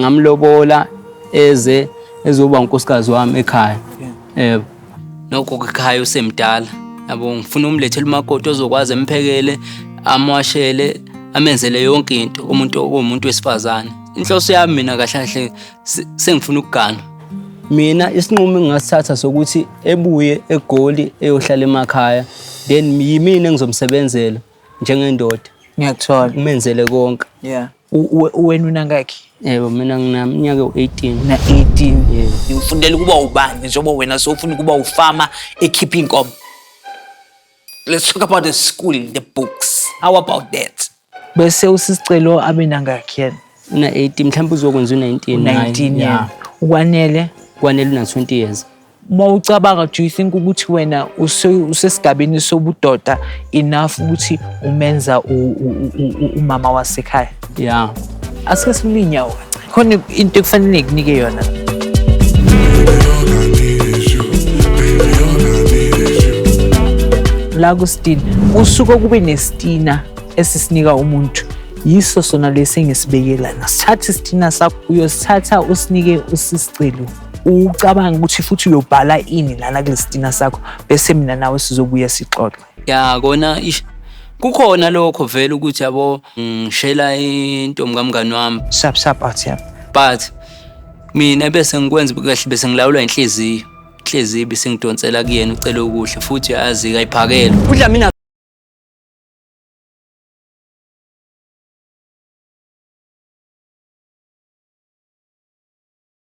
ngamlobola eze ezoba unkosikazi wami ekhaya yebo nokho ekhaya usemdala yabo ngifuna umlethele umakoti ozokwazi emphekele amwashele amenzele yonke into umuntu okuwumuntu wesifazane inhloso yami mina kahle kahle sengifuna ukugana mina isinqumo engingasithatha sokuthi ebuye egoli eyohlala emakhaya then yimina engizomsebenzela njengendoda ngiyakuthola umenzele konke yeah Wena unangakhi? Yebo mina nginamnyaka ewu-18. Una-18. Yebo. Ufundela ukuba ubani njengoba wena sowufuna ukuba ufama ekhipha inkomo. Let's talk about the school, the books. How about that? Bese usisicelo abe nangakhi yena? Una-18 mhlawumbe uzokwenza u-19. 19 yena. Ukwanele? Kwanele una-20 years. uma ucabanga do you think ukuthi wena usesigabeni sobudoda enough ukuthi umenza umama wasekhaya ya asike silule inyawo khona into ekufanele ngikunike yona la kustina usuke kube nestina esisinika umuntu yiso sona lesi engisibekela nasithatha isitina sakho uyosithatha usinike usisicelo ucabanga ukuthi futhi uyobhala ini lana kulesitina sakho bese mina nawe sizobuye sixoxe ya kona ish kukhona lokho vele ukuthi yabo ngishela intombi kamngani wami sap sap athi yami but mina bese ngikwenza kahle bese ngilawula inhliziyo inhliziyo bese ngidonsela kuyena ucela ukuhle futhi azi kayiphakele udla mina